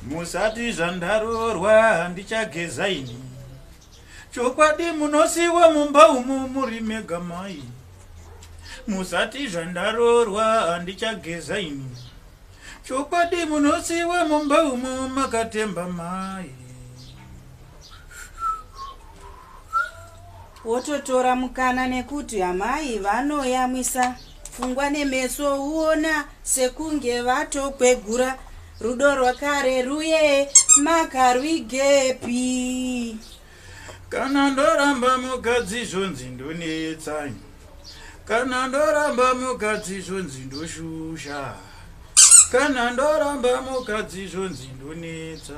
musati zvandaroorwa handichageza ini chokwadi munosiwa mumba umo muri mega mai musati zvandaroorwa handichageza ini chokwadi munosiwa mumba umo makatemba mai wototora mukana nekuti amai vanoyamwisa Pfungwa nemeso uona sekunge vatokwegura rudo rwakare ruye makarwigepi kana ndoramba mukadzi zvonzi ndonetsa kana ndoramba mukadzi zvonzi ndoshusha kana ndoramba mukadzi zvonzi ndonetsa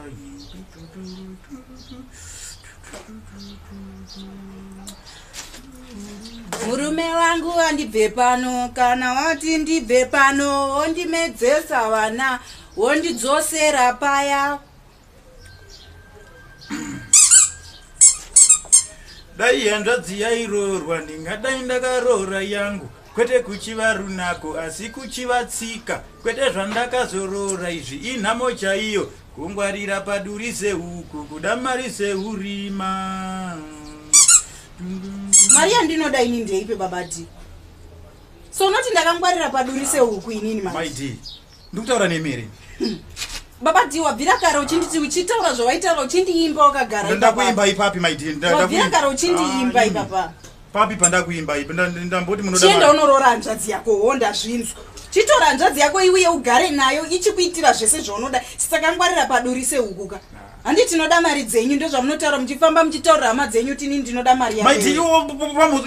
murume wangu wandibve pano kana wati ndibve pano wondimedzesa vana wondidzosera paya dai hanzvadzi yairoorwa ndingadai ndakaroora yangu kwete kuchiva runako asi kuchiva tsika kwete zvandakazorora izvi inhamo chaiyo kungwarira paduri sehuku kuda mari seurima mari yandinoda ini ndeipe babadi so unoti ndakangwarira paduri sehuku inini maidi ndikutaura nemi here baba dii wabvira kare uchinditi uchitaura zvawaitaura uchindiimba wakagara ndakuimba ipapi maidwabvira kare uchindiimba ah, ipapa papi pandakuimba ipi ndamboti munochienda unoroora hanzvadzi yako ho ndazvinzwa chitora hanzvadzi yako iuye ugare nayo ichikuitira zvese zvaunoda saka ngwarira padurise hukuka handi tinoda mari dzenyu ndozvamunotaura muchifamba muchitaurira hama dzenyu kuti ini ndinoda mari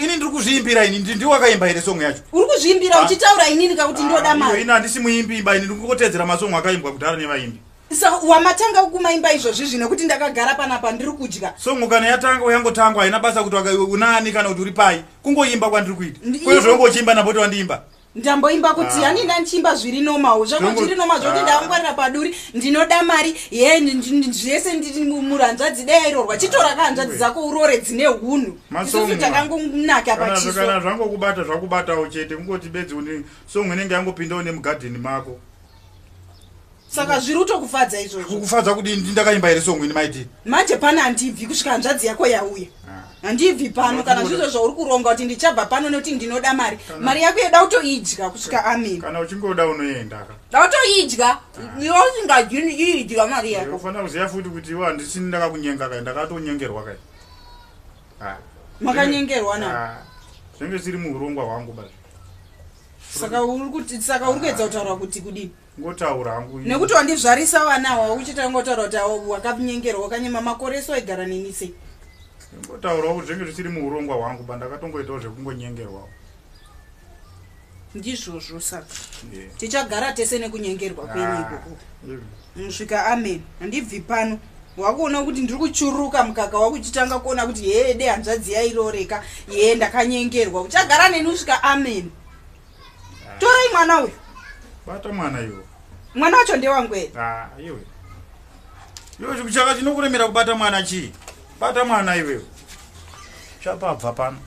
ini ndiri kuzviimbira ini ndiwo akaimba here songo yacho uri kuzviimbira ah. uchitaura inini kakuti ndoda ah, mari ini handisi muimbi imba ini ndiri kungotedzera masongo akaimbwa kudhara nevaimbi sa wamatanga kumaimba izvozvi zvino kuti ndakagara panapa ndiri kudya songo kana yatanga uyangotangwa haina basa kuti unaani kana kuti uri pai kungoimba kwandiri kuita kwezvongo uchiimba napoti wandiimba ndamboimba kuti yani ah. ndandichiimba zviri normal zvakuti zviri normal zvokuti ah. ndavangwarira paduri ndinoda mari ye zvese muranzvadzi dai irorwa ah. chitora kahanzvadzi dzako urore dzine unhu isusu takangonaka pachisokana zvangokubata zvakubatawo chete kungoti bedzi une song inenge yangopindawo nemugadheni mako saka zviri utokufadza izvozvo kukufadza kudii ndindakaimba here songwini maiti manje pano handibvi kusvika hanzvadzi yako yauya ah. handibvi pano kana zvizvo zvauri kuronga kuti ndichabva pano nekuti ndinoda mari mari yako yeda utoidya kusvika amen kana uchingoda unoendaka dautoidya ah. iwe usingadini iidya mari yako ufanira kuziva futi kuti iwe handisini ndakakunyenga kai ndakatonyengerwa kai ah. makanyengerwa na zvenge zviri muurongwa hwangu baa saka uri kuti saka uri kuedza kutaura kuti kudii ngotaura hangu nekuti wandizvarisa vana awa uchita ngotaura kuti awo wakanyengera wakanyema makore eso aigara neni sei ngotaurawo kuti zvenge zvisiri muurongwa hwangu ba ndakatongoitawo zvekungonyengerwawo ndizvozvo saka tichagara tese nekunyengerwa kwenyiko ah, Musvika amen handibvi pano wakuona kuti ndiri kuchuruka mukaka wakuchitanga kuona kuti hee de hanzvadzi yairoreka hee ndakanyengerwa uchagara neni usvika amen ah. torai mwana uyu bata mwana iwo mwana wacho ndewangu e ah, iwe iwe chikuchaka chinokuremera kubata mwana chii bata mwana iwewe chapabva pano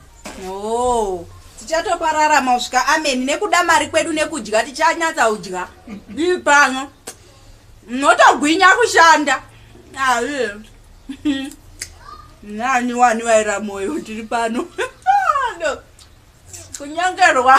Oh, tichatopararama kusvika ameni nekuda mari kwedu nekudya tichanyatsa kudya ii pano notogwinya kushanda aye nani wani vaira moyo tiri pano no. kunyangerwa